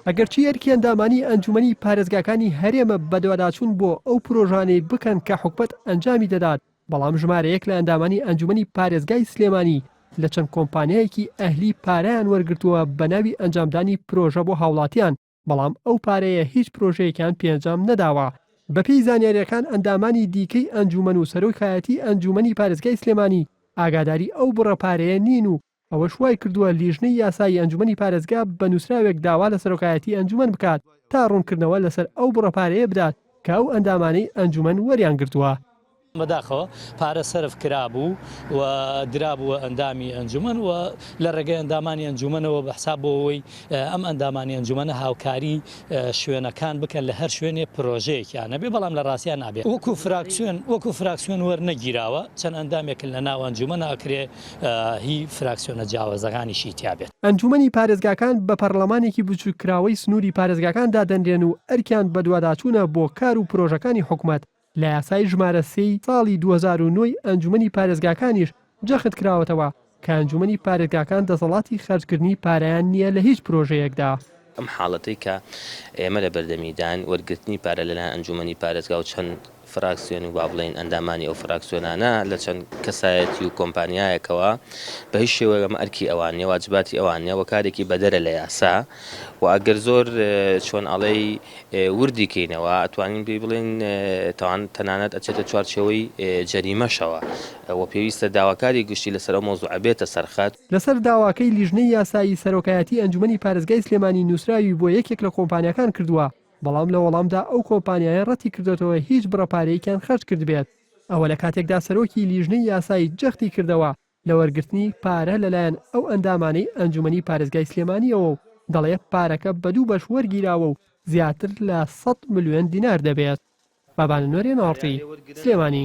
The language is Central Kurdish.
ئەگەرچی ئەرکی ئەندامانی ئەنجومەنی پارێزگاکانی هەرێمە بەدواداچوون بۆ ئەو پرۆژانەی بکەن کە حکومەت ئەنجامی دەدات، بەڵام ژمارەیەک لە ئەندامانی ئەنجومەنی پارێزگای سلێمانی لە چەند کۆمپانیایەکی ئەهلی پارەیان وەرگرتووە بەناوی ئەنجامدانی پرۆژە بۆ هاوڵاتیان، بەڵام ئەو پارەیە هیچ پرۆژەیەکیان پێنجام نەداوە. بەپێی زانیارییەکان ئەندامانی دیکەی ئەنجوومەن و سەرۆکایەتی ئەنجوومەنی پارێزگای سلێمانی ئاگاداری ئەو بڕە پارەیە نین و ئەوەش وایکردووە لیژنەی یاسایی ئەنجوومەنی پارێزگا بە نووسراوێک داوا لە سەرۆکایەتی ئەنجوومەن بکات تا ڕوونکردنەوە لەسەر ئەو بڕە پارەیە بدات کە ئەو ئەندامانەی ئەنجوومەن وەریانگرتووە. بەداخەوە پارە سەرف کرابوو و درابووە ئەندامی ئەنجومەن و لە ڕێگەی ئەندامانی ئەنجومەنەوە بە حساب بۆ ئەوەی ئەم ئەندامانی ئەنجومەنە هاوکاری شوێنەکان بکەن لە هەر شوێنێ پرۆژەیەکیان هەبێ بەڵام لە ڕاستیا نابێ وەکوو فراکسیۆن وەکوو فراکسیۆن وەرنەگیراوە چەند ئەندامێکن لە ناو ئەنجومەنا ئەکرێ هی فراکسیۆنە جیاوازەکانیشی تیا بێت. ئەنجومەنی پارێزگاکان بە پەڕڵەمانێکی بچووککراوەی سنووری پارێزگاکان دادەنرێن و ئەرکیان بەدواداچوونە بۆ کار و پرۆژەکانی حکومەت لە یاسای ژمارە سێ ی ساڵی دوو هەزار و نۆ ی ئەنجومەنی پارێزگاکانیش جەخت کراوەتەوە کە ئەنجومەنی پارێزگاکان دەسەڵاتی خەرجکردنی پارەیان نییە لە هیچ پرۆژەیەکدا. ئەم حاڵەتەی کە ئێمە لە بەردەمیداین، وەرگرتنی پارە لەلایەن ئەنجومەنی پارێزگا و چەند فراکسیۆن و با بڵێین ئەندامانی ئەو فراکسیۆنانە لە چەند کەسایەتی و کۆمپانیایەکەوە بە هیچ شێوەیەک ئەمە ئەرکی ئەوان نییە، واجباتی ئەوان نییە و کارێکی بەدەرە لە یاسا و ئەگەر زۆر چۆن ئەڵێی، وردی کەینەوە ئەتوانین پێی بڵێین تاوان تەنانەت ئەچێتە چوارچێوەی جەریمەشەوە و پێویستە داواکاری گشتی لەسەر ئەو مەوزوعە بێتە سەر خەت. لەسەر داواکەی لیژنەی یاسایی سەرۆکایەتی ئەنجومەنی پارێزگای سلێمانی نوسراوی بۆ یەکێک لە کۆمپانیاکان کردووە بەڵام لە وەڵامدا ئەو کۆمپانیایە ڕەتی کردۆتەوە هیچ بڕە پارەیەکیان خەرج کردبێت ئەوە لە کاتێکدا سەرۆکی لیژنەی یاسایی جەختی کردەوە لە وەرگرتنی پارە لەلایەن ئەو ئەندامانەی ئەنجومەنی پارێزگای سلێمانیەوە و دەڵێ پارەکە بە دوو بەش وەرگیراوە و زیاتر لە سەد ملیۆن دینار دەبێت. بابانە نۆرێن ئاڕتی، سلێمانی.